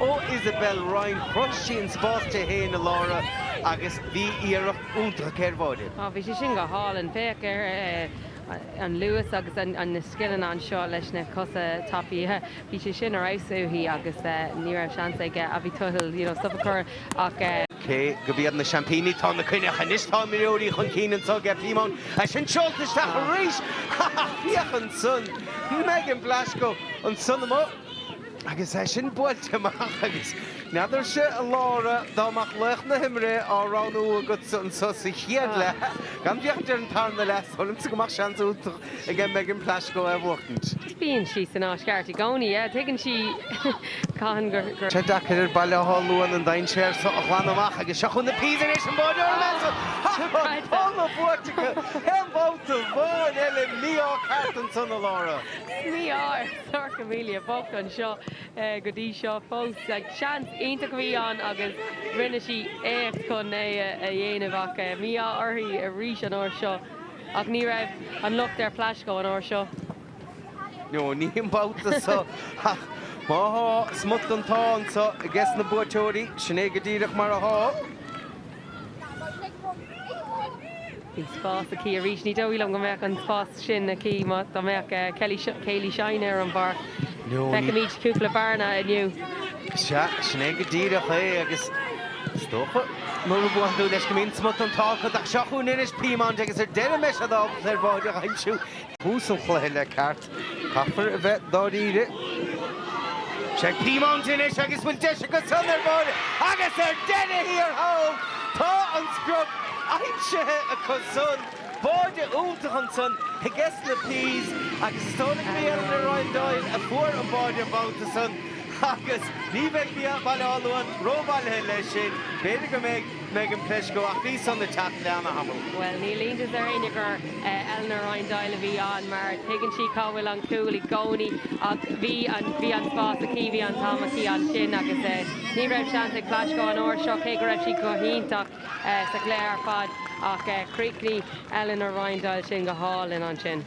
Ó Isabel Ryan, chruthaigh sí an spás di fhéin a Laura agus bhí iarracht iontach aici ar bháide. Ó bhí sé sin go hálainn féach ar an luas agus na scileanna anseo leis na cosa tapaí. Bhí sé sin ar fheabhas uaithi agus ní raibh seans ag Abby Tuthill you know stop a chur ach. Cé gurb iad na seaimpíní atá ina gcoinne ach anois tá imreoirí chun cinn anso ag Peamount é sin seolta isteach arís ha ha ha féach ansan Megan Plaschko ansan amuigh. Agus é sin buailte amach agus n'fheadarsa, a Laura, dá mbeadh laoch na himeartha á roghnú agatsa anseo sa chéad leath, gan bheocht ar an tarna leath, is dóigh liomsa go mbeadh seans iontach ag Megan Plaschko é a bhuachtaint. Bíonn sí san áit cheart i gcónaí. Tuigeann sí cathain gur. Sea deacair ar Bhaile Átha Luain an dainséar so a ghlanadh amach agus seo chugainn na Peas tar éis an báide óir a mhealladh. Ha! An t-adhmad buailte acu aon bhabhta amháin eile mí-ádh ceart anseo, a Laura? Mí-ádh! Sorcha Melia bocht anseo go dtí seo fós. Seans iontach a bhí ann agus rinne sí éacht chun é a dhéanamh ach mí-ádh uirthi arís an uair seo. Ach ní raibh an locht ar Plaschko an uair seo. No, ní an babhta seo. Ach má thá, smut den t-ádh anseo ages na buaiteoirí, sin é go díreach mar a thá. Bhí spás aici arís. Ní dóigh liom go mbeadh an spás sin aici dá mbeadh Kayleigh Shine ar an bpáirc. Feicimid cúpla bearna inniu. Sea, sin é go díreach é agus is dócha, nuair a bhuann tú leis, go mbíonn smut den t-ádh agat ach seo chugainn anois, Peamount, agus ar deireadh an mbeidh siad ábalta ar bháide a aimsiú. Tús an chluiche le ceart. Caithfear a bheith dáiríre. Seo Peamount anois agus an bhfuil deis acu san ar bháide agus ar deireadh thiar thall tá an sprioc aimsithe acu san. Báide iontach ansan ages na Peas agus is dóigh gurb í Eleanor Ryan Doyle a fuair an báide an babhta san agus ní bheidh Baile Átha Luain ró-bhailithe leis sin. B'fhéidir go mbeidh. Megan Plaschko, ach bhí san ag teacht le ana-thamall. Bhuel, níl iontas ar éinne gur Eleanor Ryan Doyle a bhí ann mar tuigeann sí cá bhfuil an cúl i gcónaí ach bhí an, bhí an spás aici, bhí an t-am aici ansin agus ní raibh seans ag Plaschko an uair seo cé go raibh sí go hiontach sa chluiche ar fad ach chríochnaigh Eleanor Ryan Doyle sin go hálainn ansin.